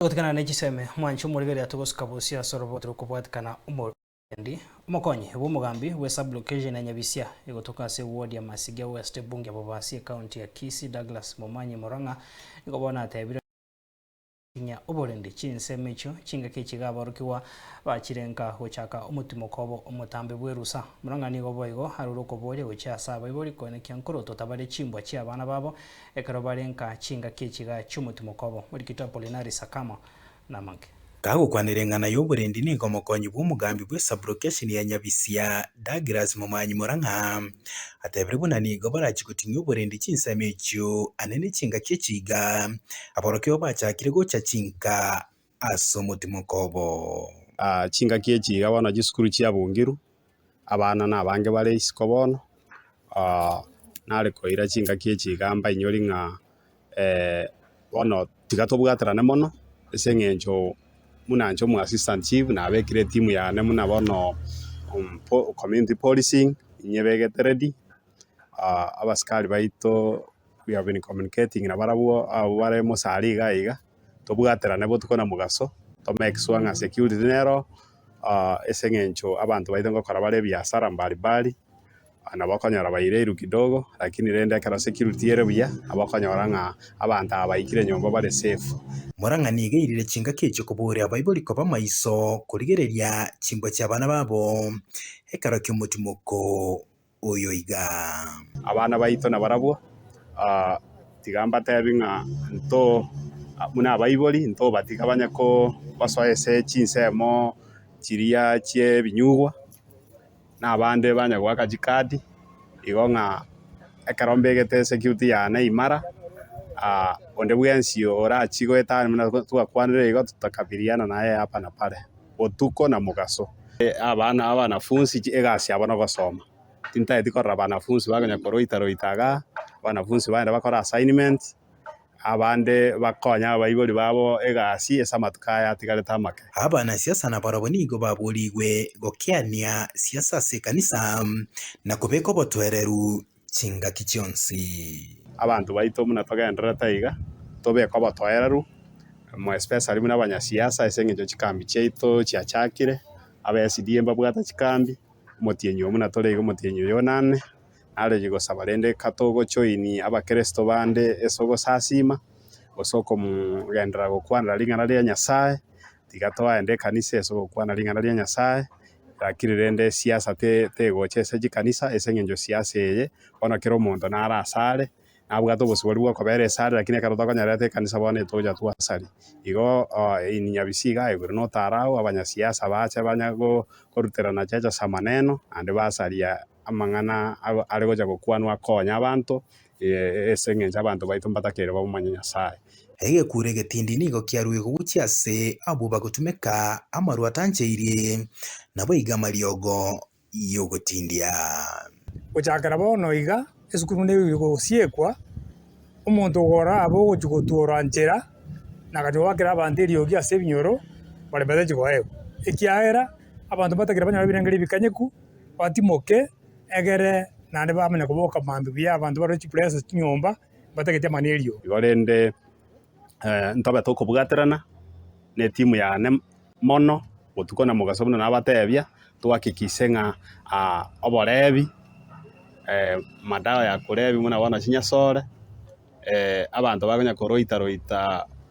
Gotigana ne chisemi, mwanche omorigereria togosuka bosio ase oroboti rokobwatikana omoriendi. Omokonyi bw'omogambi bwe sub-location ya Nyabisia egotoka ase ewodi ya Masigia West Ebunge Bobasi ekaunti ya Kisii Douglas Momanyi Murang'a nigo bono atebire Tinya oborindi, chinsemi echio chingaki echiga aborokigwa bachirenka gochaka omotimoko obo omotambe bw'erusa. Murang'a nigo boigo arure okoboria gochia ase abaibori koenekio nkorotota bare chimbwa chi'abana babo Ekero barenka chingaki echiga chi'omotu mokobo, Morikito Apolinari Sakamo namake. Kagokwanera eng'ana y'oborendi nigo omokonyi bw'omogambi bwe Sub-Location ya Nyabisia, Douglas Momanyi Morang'a, atebire buna nigo barachie gotinia oborendi chinsemo echio ane ne chingaki echiiga, aborokigwa bachakire gocha chinka. as'omotimoko obo. Chingaki echi iga bono chisukuru chiabungiru, abana nabange bare isiko bono, nare koira chingaki echi iga mbainyori ng'a bono tiga tobwaterane mono ase eng'encho buna inche omwassistant chief nabekire etimu yane buna bono community policing inye ebegete ready abasikari baito we have been communicating nabarabwo abwo bare mochari iga iga. tobwaterane botuko na mogaso, tome egesuha ng'a security nero ah, ase eng'encho abanto baito ngokora bare ebiasara mbari mbari, ah, nabo okonyora baireiru kidogo, lakini rende ekero security ere buya, nabo okonyora ng'a abanto aba baikire nyomba bare safe. Morang'ani egairire chingaki echio kobooria abaibori koba amaiso korigereria chimbwa chi'abana babo ekero ki'omotimoko. oyo igaa. Abana baito nabarabwo, tiga mbatebi ng'a nto buna abaibori, ntobatiga banye kobasoa ase chinsemo chiria chi'ebinyugwa, na abande banye goaka chikadi, igo ng'a ekero mbegete security yane imara, onde bwensi orachie goetania buna twakwanire igo, totakabirirana naye hapa na pale. botuko na mogaso. Abana abanafunsi egasi yabo nogosoma tintageti korora abanafunsi ba konya koroita roita igaa abanafunsi bagenda bakore assignment abande bakonye abaibori babo egasi ase amatuko aya atigarete amake. Abana siasa nabarabwo nigo baborigwe gokeania siasa ase ekanisa na kobeka obotwereru chingaki chionsi. Abanto baito buna togendererete aiga, tobeke obotoereru, more especially buna abanyasiasa ase eng'encho chikambi chiaito chiachakire, aba SDA mbabwate chikambi, omotienyi oyo buna tore iga omotienyi oyo nane, naroyie gosaba rende katogo join abakeresto bande ase ogosasiima, gose okomogenderera gokwanera ring'ana ria Nyasaye, tiga toagende ekanisa ase ogokwana ring'ana ria Nyasaye, Lakini rende esiasa te- tegocha ase chikanisa ase eng'encho siasa eye, bono kera omonto naro ase are, nabwate obosibori bwa okobera ase are lakini ekero tokonyora ete ekanisa bono etocha twasaria. Igo in Nyabisio iga aegure na otaro agwo abanyasiasa bache banya go- goruterana cheche ase amaneno naende basaria. amang'ana are gocha gokwanwa akonya abanto, ee, ase engencho abanto baito mbatakeire bamomanye Nyasae. Egekuure egetindi nigo kiaruigwe gochia ase abwo bagotumeka amarwa atancheirie, nabo iga amariogo y'ogotindia. Gochakera bono iga, esukuru nigo egosiekwa, omonto ogora abe ogochia gotuora nchera, na agachia goakera abanto eriogi ase ebinyoro, bare batachi koegwa, ekiagera abanto mbatakeire banyore ebirengererio ebikanyeku. batimoke egere naende bamanye koboka mambia buya abanto barore chipuresa ase chinyomba mbatagete amani eriogi. Igo rende ntobe tokobwaterana na etimu yane mono botuko na mogaso buna nabatebia, toakikise ng'a oborebi, madawa ya korebia buna bono chinyasore, abanto bakonya koroita roita.